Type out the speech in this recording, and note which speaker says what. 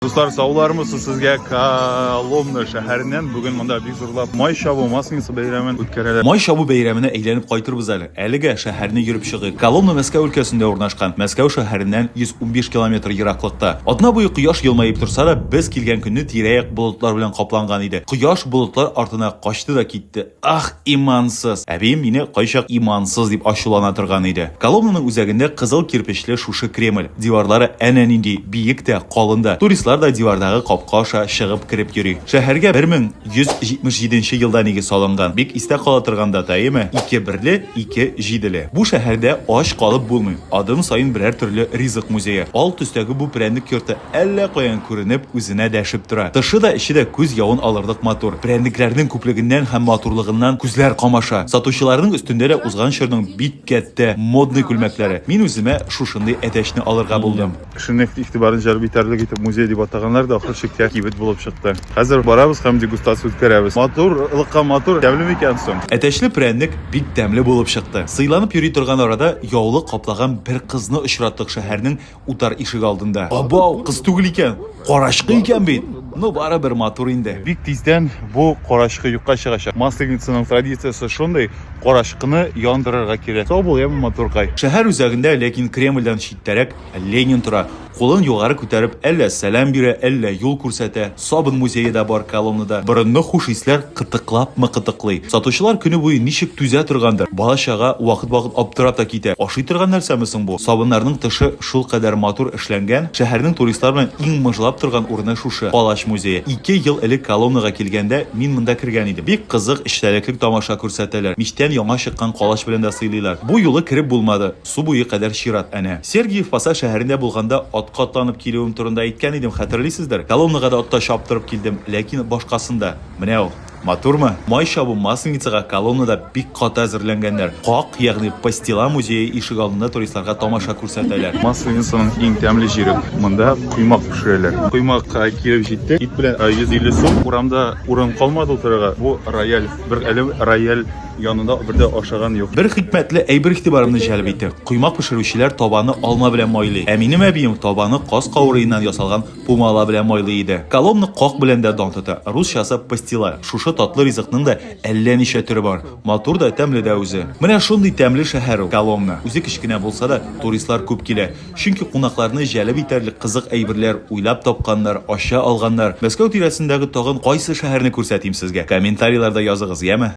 Speaker 1: Дуслар, саулармысы сезгә Коломна шәһәреннән. Бүген монда бик зурлап май чабу масленица бәйрәмен үткәрәләр. Май чабу бәйрәменә
Speaker 2: әйләнеп кайтырбыз әле. Әлегә шәһәрне йөреп чыгыйк. Коломна Мәскәү өлкәсендә урнашкан. Мәскәү шәһәреннән 115 километр ераклыкта. Атна буе кояш елмаеп торса да, без килгән көнне тирә-як болытлар белән капланган иде. Кояш болытлар артына качты да китте. Ах, имансыз! Әбием мине кайчак имансыз дип ачулана торган иде. Коломнаның үзәгендә кызыл кирпечле шушы Кремль. Диварлары әнә нинди биек тә, калын да. Туристлар да дивардагы капка аша чыгып кереп йөри. Шәһәргә 1177 нче елда нигез салынган. Бик истә кала торган дата, әйеме? Ике берле, ике җиделе. Бу шәһәрдә ач калып булмый. Адым саен берәр төрле ризык музее. Ал төстәге бу прәннек йорты Әллә каян күренеп, үзенә дәшеп тора. Тышы да, эче дә күз явын алырлык матур. Прәннекләрнең күплегеннән һәм матурлыгыннан күзләр камаша. Сатучыларның өстендә дә узган чорның бик кәттә, модный күлмәкләре. Мин үземә шушындый әтәчне алырга булдым. Кешенең игътибарын
Speaker 1: җәлеп итәрлек итеп музей дип атаганнар да ахыр чиктә кибет булып чыкты. Хәзер барабыз һәм дегустация үткәрәбез. Матур, лыкка матур, тәмле микән соң? Әтәчле прәннек
Speaker 2: бик тәмле булып чыкты. Сыйланып йөри торган арада яулык каплаган бер кызны очраттык шәһәрнең утар ишек алдында. Абау, кыз түгел икән, карачкы икән бит. Ну, барыбер матур инде. Бик тиздән
Speaker 1: бу карачкы юкка чыгачак. Масленицаның традициясе шундый, карачкыны яндырырга кирәк. Сау бул, яме, матуркай. Шәһәр үзәгендә,
Speaker 2: ләкин Кремльдән читтәрәк Ленин тора. Кулын югары күтәреп, әллә сәлам бирә, әллә юл күрсәтә. Сабын музее да бар Коломнада. Борынгы хуш исләр кытыклапмы кытыклый. Сатучылар көне буе ничек түзә торгандыр. Бала-чага вакыт-вакыт аптырап та китә, ашый торган нәрсәме соң бу? Сабыннарның тышы шулкадәр матур эшләнгән. Шәһәрнең туристлар белән иң мыжлап торган урыны шушы, Палач музее. Ике ел элек Коломнага килгәндә, мин монда кергән идем. Бик кызык, эчтәлеклек тамаша күрсәтәләр. Мичтән яңа чыккан калач белән дә сыйлыйлар. Бу юлы кереп булмады. Су буе кадәр чират әнә. Сергиев Посад шәһәрендә булганда атка атланып килүем турында әйткән идем, хәтерлисездер. Колоннага да атта чаптырып килдем, ләкин башкасында. Менә ул. Матурмы? Май чабу Масленицага колоннада бик каты әзерләнгәннәр. Как, ягъни Пастила музее ишек алдында туристларга тамаша күрсәтәләр. Масленицаның иң
Speaker 1: тәмле җире. Монда коймак пешерәләр. Коймак килеп җитте. Ит белән 150 сум. Урамда урын калмады утырырга. Бу рояль. Бер әле рояль Янында бер дә ашаган юк. Бер хикмәтле әйбер
Speaker 2: игътибарымны җәлеп итте. Коймак пешерүчеләр табаны алма белән майлый, ә минем әбием табаны каз каурыеннан ясалган пумала белән майлый иде. Коломны как белән дә дан тота, русчасы пастила. Шушы татлы ризыкның да әллә ничә төре бар. Матур да, тәмле дә үзе. Менә шундый тәмле шәһәр ул, Коломна. Үзе кечкенә булса да, туристлар күп килә. Чөнки кунакларны җәлеп итәрлек кызык әйберләр уйлап тапканнар, ача алганнар. Мәскәү тирәсендәге тагын кайсы шәһәрне күрсәтим сезгә? Комментарийларда языгыз, яме?